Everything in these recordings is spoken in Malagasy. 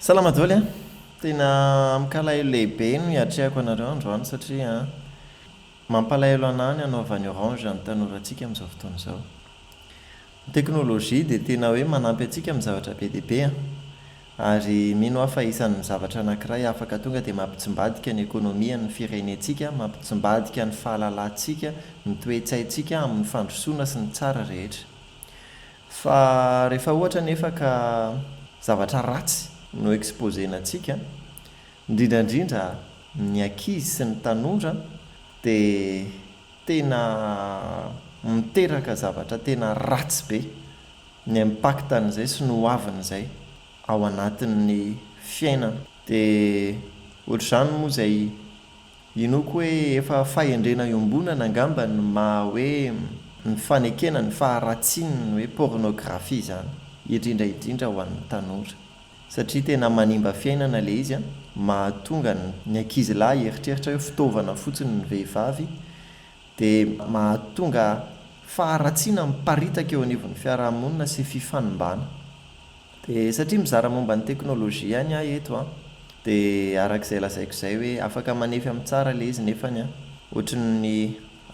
Salama doly a! Tena amin'kalahelo lehibe no hiatrehako anareo androany satria mampalahelo anah ny hanaovan'ny orange ny tanorantsika amin'izao fotoana izao. Ny teknolojia dia tena hoe manampy antsika amin'ny zavatra be dia be a! Ary mino aho fa isan'ny zavatra anankiray afaka tonga dia mampitsimbadika ny ekonomian'ny firenentsika, mampitsimbadika ny fahalalantsika, ny toe-tsaintsika amin'ny fandrosoana sy ny tsara rehetra. Fa rehefa ohatra anefa ka zavatra ratsy no exposer-nantsika, indrindra indrindra ny ankizy sy ny tanora dia tena miteraka zavatra tena ratsy be ny impact-n'izay sy ny ho avin'izay ao anatin'ny fiainana. Dia ohatr'izany moa izay Inoako hoe efa fahendrena iombonana angamba ny maha hoe ny fanekena ny faharatsian'ny hoe pornographie izany, indrindra indrindra ho an'ny tanora. Satria tena manimba fiainana ilay izy an, mahatonga ny ankizy lahy hieritreritra hoe fitaovana fotsiny ny vehivavy, dia mahatonga faharatsiana miparitaka eo anivon'ny fiarahamonina sy fifanimbana. Dia satria mizara momba ny teknolojia ihany aho eto an, dia araka izay lazaiko izay hoe afaka manefy amin'ny tsara ilay izy nefany an, ohatry ny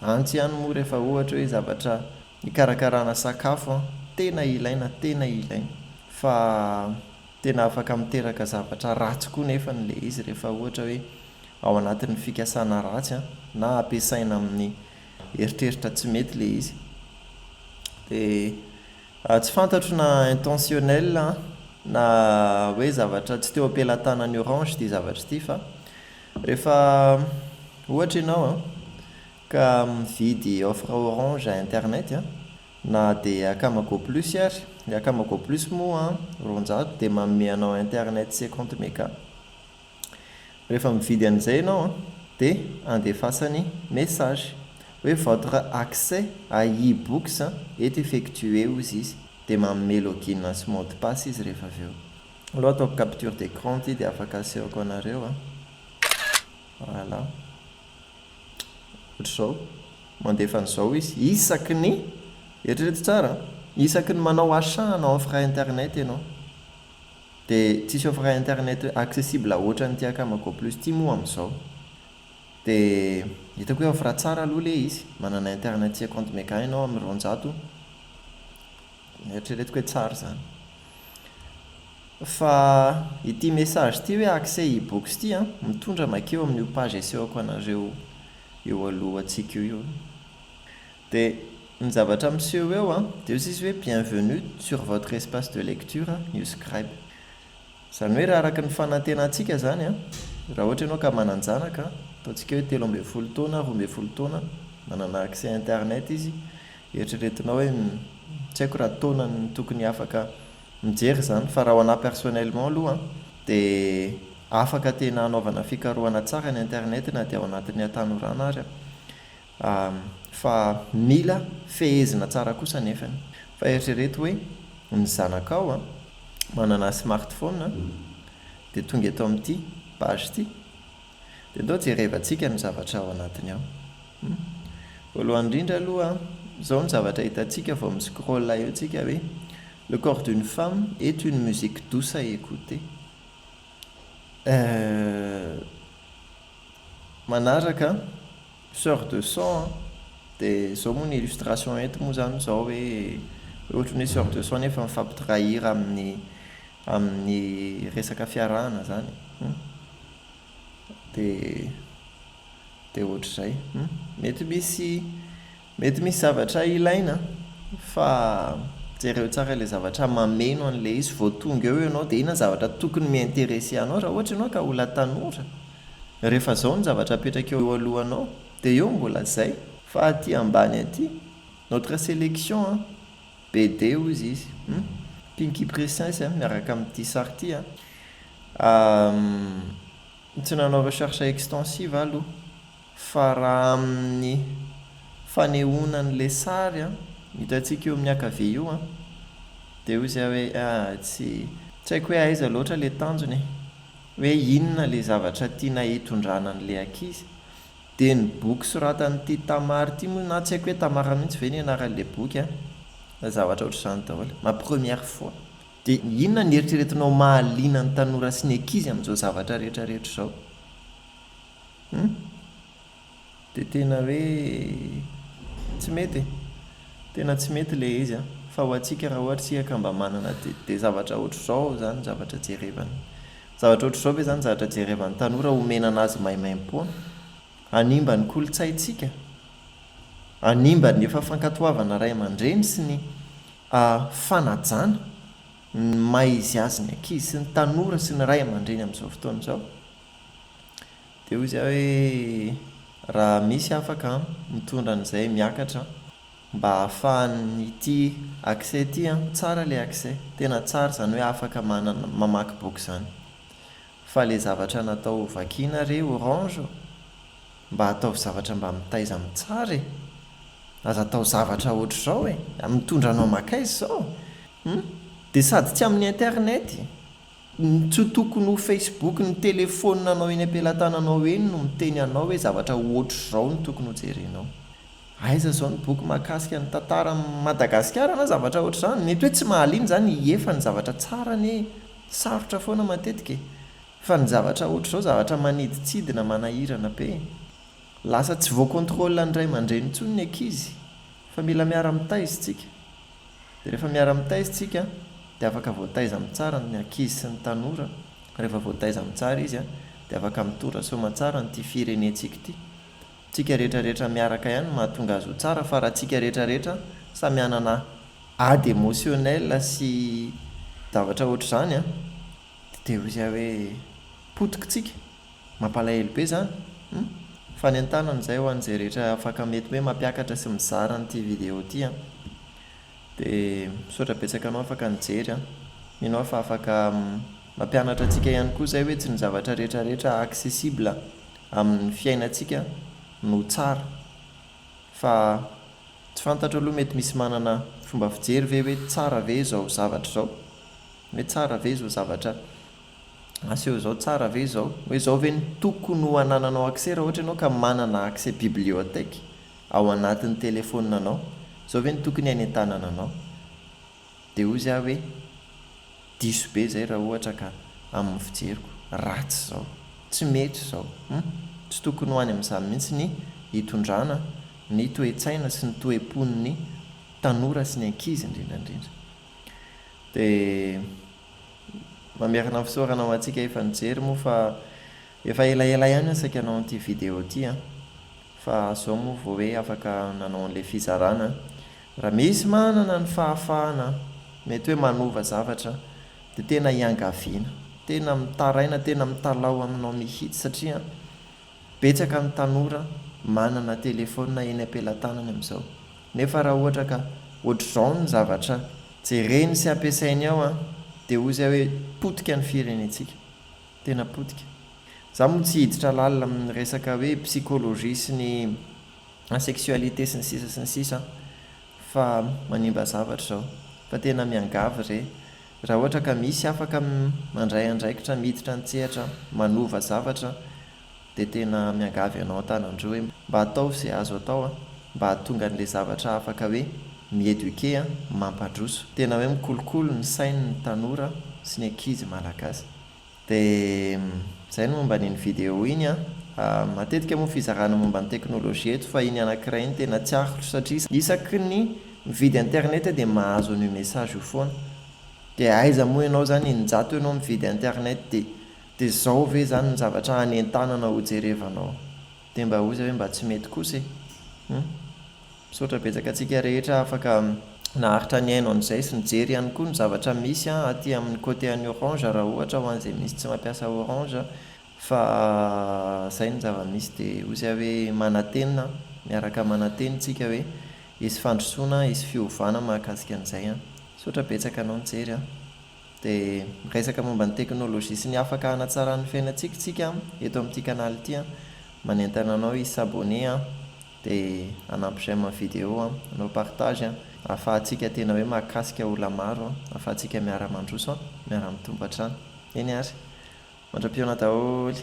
antsy ihany moa rehefa ohatra hoe zavatra hikarakarana sakafo an, tena ilaina, tena ilaina, fa tena afaka miteraka zavatra ratsy koa nefany ilay izy rehefa ohatra hoe ao anatin'ny fikasana ratsy an, na ampiasaina amin'ny eritreritra tsy mety ilay izy. Dia. Tsy fantatro na intentionnel na hoe zavatra tsy teo am-pelatanan'i Orange ity zavatra ity fa rehefa ohatra ianao ka mividy offre Orange internet na dia akama go plus ary, ny akama go plus moa roanjato dia manome anao internet cinquante mega. Rehefa mividy an'izay ianao an, dia andefasany message hoe votre accès à e-books est effectué hozy izy, dia manome login sy mot de passe izy rehefa avy eo. Aleo ataoko capture d'écran ity dia afaka asehoko anareo an. Voilà. Ohatr'izao. Mandefa an'izao izy isaky ny, eritrereto tsara an, isaky ny manao achat hanao offre internet ianao. De tsisy offre internet accessible otrany ty akama go plus ty moa amzao. De hitako hoe offre tsara aloha le izy, manana internet sy account mega enao am roanjato, eritreretiko hoe tsara zany. Fa ity message ity hoe accès ebooks ty an, mitondra makeo amin'io page asehoko anareo eo alohantsika io io. Dia ny zavatra miseho eo an, dia hoy izy hoe bienvenue sur votre espace de lecture new scribe. Izany hoe raha araka ny fanantenantsika izany an, raha ohatra ianao ka manan-janaka, ataontsika hoe telo ambin'ny folo taona, roa ambin'ny folo taona, manana accès internet izy, eritreretinao hoe tsy haiko raha taonany tokony afaka mijery izany fa raha ho anah personnellement aloha an, dia afaka tena hanaovana fikarohana tsara ny internet na dia ao anatin'ny hatanorana ary an. Ahm, fa mila fehezina tsara kosa nefany. Fa eritrereto hoe ny zanakao an, manana smartphone an, dia tonga eto amin'ity page ity, dia ndao jerevantsika ny zavatra ao anatiny ao. Humm. Voalohany indrindra aloha an, izao ny zavatra hitantsika vao mi-scroll eo tsika hoe, Le corps d'une femme est une musique douce à écouter. Euh. Manaraka an. Soeur de son an! de zao moa ny illustration eto moa zany zao hoe ohatry ny hoe soeur de son nefa mifampidray hira amin'ny amin'ny resaka fiarahana zany hum! de de ohatr'izay hum! mety misy Mety misy zavatra ilaina fa jereo tsara ilay zavatra mameno an'ilay izy vao tonga eo ianao dia inona zavatra tokony mi-interesser anao raha ohatra ianao ka mbola tanora rehefa zao ny zavatra apetraka eo alohanao dia eo mbola zay fa aty ambany aty notre selection an BD hozy izy hum pinky princess a miaraka amin'ity sary ity a uhm tsy nanao recherche extensive aho aloha Fa raha amin'ny fanehoana an'ilay sary an, hitantsika eo amin'ny akavia io an, dia hoy zay hoe ah, tsy, tsy haiko hoe aiza loatra ilay tanjony e, hoe inona ilay zavatra tiana hitondrana an'ilay ankizy. Dia ny boky soratan'ity Tamar ity moa, na tsy haiko hoe Tamara mihitsy ve ny anaran'ilay boky an, na zavatra ohatr'izany daholo, ma première fois. Dia inona no eritreretinao mahaliana ny tanora sy ny ankizy amin'izao zavatra rehetra rehetra izao? Hum? Dia tena hoe tsy mety e! Tena tsy mety ilay izy an! Fa ho antsika raha ohatra isika ka mba manana dia dia zavatra ohatr'izao izany ny zavatra jerevana. Zavatra ohatr'izao ve izany ny zavatra jerevan'ny tanora omena an'azy maimaimpoana? Hanimba ny kolontsaintsika? Hanimba ny efa fankatoavana ray aman-dreny sy ny fanajana ny maha izy azy ny ankizy sy ny tanora sy ny ray aman-dreny amin'izao fotoana izao? Dia hoy zay hoe raha misy afaka mitondra an'izay miakatra mba ahafahan'ity accès ity an, tsara le accès, tena tsara zany hoe afaka manana mamaky boky zany. Fa le zavatra natao ho vakiana re orange ô! Mba ataovy zavatra mba mitaiza amin'ny tsara e! Aza atao zavatra ohatr'izao e! Mitondra anao makaiza izao? Hum? Dia sady tsy amin'ny internet! Tsy tokony ho Facebook ny telephone nao eny ampelatananao eny no miteny anao hoe zavatra otrzao no tokony ho jerenao. Aiza zao ny boky mahakasika ny tantara Madagasikara na zavatra otrzany. Mety hoe tsy mahaliana zany i Ie fa ny zavatra tsara anie sarotra foana matetika e. Fa ny zavatra otrzao zavatra manidintsidina manahirana be e. Lasa tsy voacontrole ny ray aman-dreny intsony ny ankizy fa mila miara-mitaiza istsika. Dia rehefa miara-mitaiza isika dia afaka voataiza amin'ny tsara ny ankizy sy ny tanora, rehefa voataiza amin'ny tsara izy dia afaka mitondra soamantsara an'ity firenentsika ity. Tsika rehetra rehetra miaraka ihany no mahatonga azy ho tsara fa raha tsika rehetra rehetra samy hanana ady emotionnel sy zavatra ohatr'izany dia teo izy hoe potika tsika. Mampalahelo be zany hum! Fanentanana izay ho an'izay rehetra afaka mety hoe mampiakatra sy mizara an'ity vidéo ity an! De misaotra betsaka anao afaka nijery an! Mino aho fa afaka mampianatra antsika ihany koa izay hoe tsy ny zavatra rehetra rehetra accessible amin'ny fiainantsika no tsara fa tsy fantatro aloha mety misy manana fomba fijery ve hoe tsara ve izao zavatra izao? Hoe tsara ve izao zavatra Aseho izao tsara ve izao, hoe izao ve no tokony ho anananao accès raha ohatra ianao ka manana accès bibliothèque ao anatin'ny téléphone anao, izao ve no tokony hainy an-tanana anao? Dia hoy zah hoe diso be izay raha ohatra ka amin'ny fijeriko, ratsy izao, tsy mety izao, hum! tsy tokony ho any amin'izany mihitsy ny hitondrana ny toe-tsaina sy ny toe-pon'ny tanora sy ny ankizy indrindra indrindra. Dia. Mamerina ny fisaorana ho antsika efa nijery moa fa efa elaela ihany aho saika nanao an'ity vidéo ity an! Fa zao moa vao hoe afaka nanao an'ilay fizarana an! Raha misy manana ny fahafahana mety hoe manova zavatra dia tena iangaviana! Tena mitaraina, tena mitalaho aminao mihitsy satria. Betsaka ny tanora manana telefaonina eny am-pelatanany amin'izao. Nefa raha ohatra ka ohatr'izao ny zavatra jereny sy ampiasainy ao an, dia hoy izay hoe potika ny firenentsika. Tena potika. Za moa tsy hiditra lalina amin'ny resaka hoe psychologie sy ny asexualité sy ny sisa sy ny sisa an, fa manimba zavatra izao. Fa tena miangavy re Raha ohatra ka misy afaka mandray andraikitra miditra an-tsehatra manova zavatra dia tena miangavy anao an-tanan-droa hoe mba ataovy izay azo atao mba hahatonga an'ilay zavatra afaka hoe mi-eduquer a, mampandroso. Tena hoe mikolokolo ny sainy ny tanora sy ny ankizy malagasy. Dia izay ny momba an'iny vidéo iny an! Matetika moa fizarana momba ny teknolojia eto fa iny anankiray iny tena tiako satria isaky ny mividy internet dia mahazo an'io message io foana. Dia aiza moa ianao izany eninjato eo no mividy internet dia dia izao ve izany no zavatra hanentanana hojerevanao Dia mba ozy ve mba tsy mety kosa e! Hum. Misaotra betsaka antsika rehetra afaka naharitra nihaino an'izay sy nijery ihany koa ny zavatra misy an aty amin'ny côté an'i Orange raha ohatra ho an'izay misy tsy mampiasa Orange fa izay ny zava-misy dia ozy aho hoe manantena an! miaraka mananteny tsika hoe hisy fandrosoana an! hisy fiovana mahakasika an'izay an! Misaotra betsaka anao nijery an! Dia miresaka momba ny teknolojia sy ny afaka hanatsarana ny fiainantsika tsika eto amin'ity kanaly ity an! Manentana anao hi s'abonner an! Dia hanampy j'aime ny video an! Hanao partage an! Ahafahantsika tena hoe mahakasika olona maro an! Ahafahantsika miara-mandroso an! Miara-mitombo hatrany! Eny ary! Mandra-pihaona daholo!